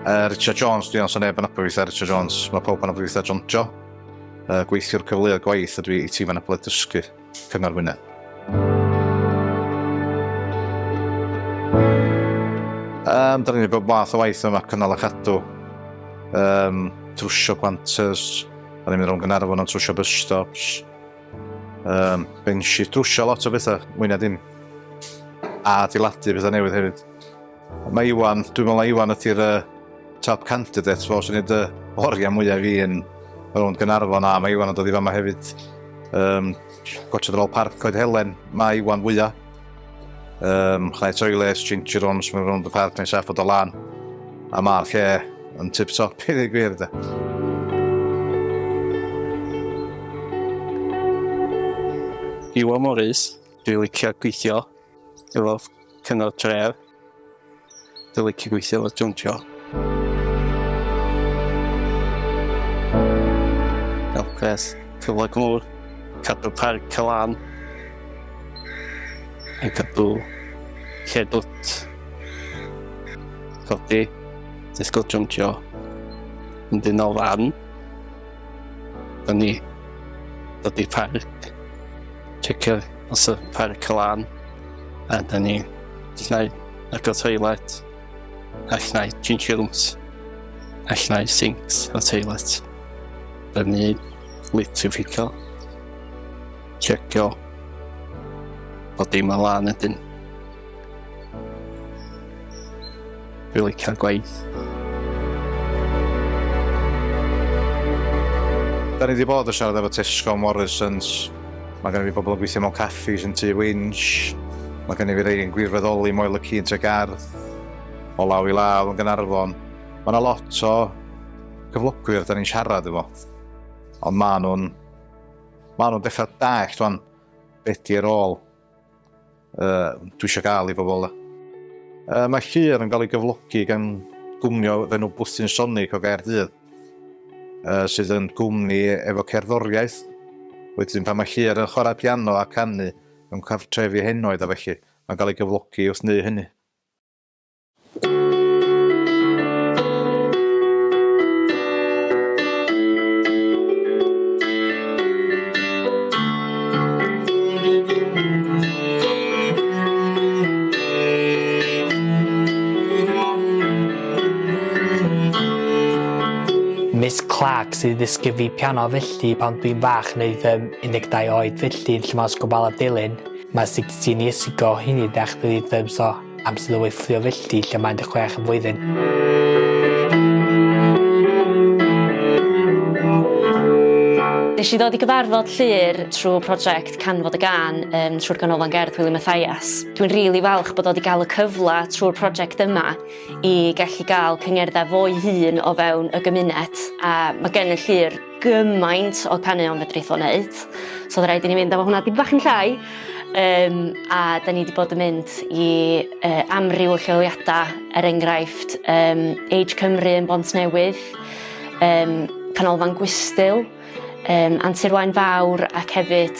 Uh, Richard Jones, dwi'n anso neb yn abod weithiau Richard Jones. Mae pawb yn abod weithiau John Jo. Uh, gweithiwr cyfleoedd gwaith ydw i i tîm yn abod dysgu Cyngor Wynedd. Um, da ni'n bod math o waith yma cynnal a chadw. Um, trwsio planters, da ni'n mynd rhwng gynarfon am trwsio bus stops. Um, Bensi, trwsio lot o bethau, mwynhau dim. A diladu bethau newydd hefyd. Mae Iwan, dwi'n meddwl na Iwan ydy'r uh, top candidate fo, sy'n ei dy oriau mwyaf fi yn rownd Gynarfon, a mae Iwan yn dod i fama hefyd. Um, Gotchad ôl parc Coed Helen, mae Iwan fwyaf. Um, Chnau Toiles, Ginger Rons, mae'n rownd y parc neu saff o do lan. A mae'r lle yn tip top i ddweud gwir da. Iwan Morris, dwi'n licio gweithio efo Cyngor Tref. Dwi'n licio gweithio efo Jontio. Elfres, cyfle gŵr, cadw parc Cylan, yn cadw lle dwt, codi, disgwyl Jontio, yn dyn o fan, da ni, dod i parc, checio os y parc Cylan, A da ni, llnau agor toilet, a llnau changio rooms, a llnau sinks o toilet. Da ni litrifficio, checio, bod dim yn lan ydyn. Fi licio'r gwaith. Da ni wedi bod yn siarad efo Tesco a Morrisons. Mae gen i fi bobl yn gweithio mewn caffis yn tu Winch. Mae gen i fi rei yn gwirfoddoli Moel y Ci yn Tregarth. O law i law yn Gynarfon. Mae yna lot o cyflogwyr da ni'n siarad efo. Ond maen nhw'n maen nhw'n dechrau dallt rwan beth di'r ôl. Uh, dwi eisiau gael i bobl. Uh, mae llir yn cael ei gyflogi gan gwmnio fe nhw Bwthyn Sonic o Gaerdydd, uh, sydd yn gwmni efo cerddoriaeth. Wedyn pan mae llir yn chwarae piano a canu yn cartrefi henoed a felly, mae'n cael ei gyflogi wrth neu hynny. Clark sydd ddysgu fi piano felly pan dwi'n fach neu ddim 12 oed felly yn lle mas gofal a dilyn mae 16 years ago hynny dech ddi ddim so Amser o weithio filldi lle mae dy chwech yn flwyddyn. Nes i ddod i gyfarfod Llŷr trw project Can Fod Y Gân yym trw'r Ganolfan Gerdd Wili Mathias. Dwi'n rili falch bod o 'di ga'l y cyfle trw'r project yma i gellu ga'l cyngerddau fo'i hun o fewn y gymuned a ma' gen y Llŷr gymaint o caneuon fedrith o wneud. So oedd rhaid i ni fynd efo hwnna dipyn bach yn llai. Um, a da ni wedi bod yn mynd i uh, amryw o lleoliadau, er enghraifft um, Age Cymru yn Bont Newydd, um, Canolfan Gwystyl, um, Antur Wain Fawr ac hefyd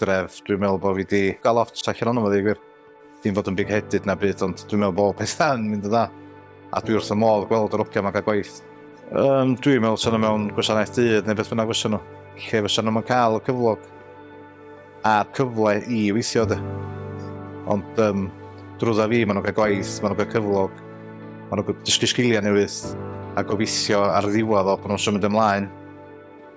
dref, dwi'n meddwl bod fi wedi cael lot allan o'n ymwneud gwir. Dim fod yn big headed na byd, ond dwi'n meddwl bod pethau yn mynd yn dda. A dwi wrth y modd gweld yr ogiau mae'n cael gwaith. Um, dwi'n meddwl sy'n mewn gwasanaeth dydd neu beth fyna fysa nhw. Lle fysa nhw'n cael y cyflog a'r cyfle i weithio dy. Ond um, drwydda fi, maen nhw'n cael gwaith, maen nhw'n cael cyflog, maen nhw'n dysgu sgiliau newydd a gobeithio ar ddiwedd o bod nhw'n symud ymlaen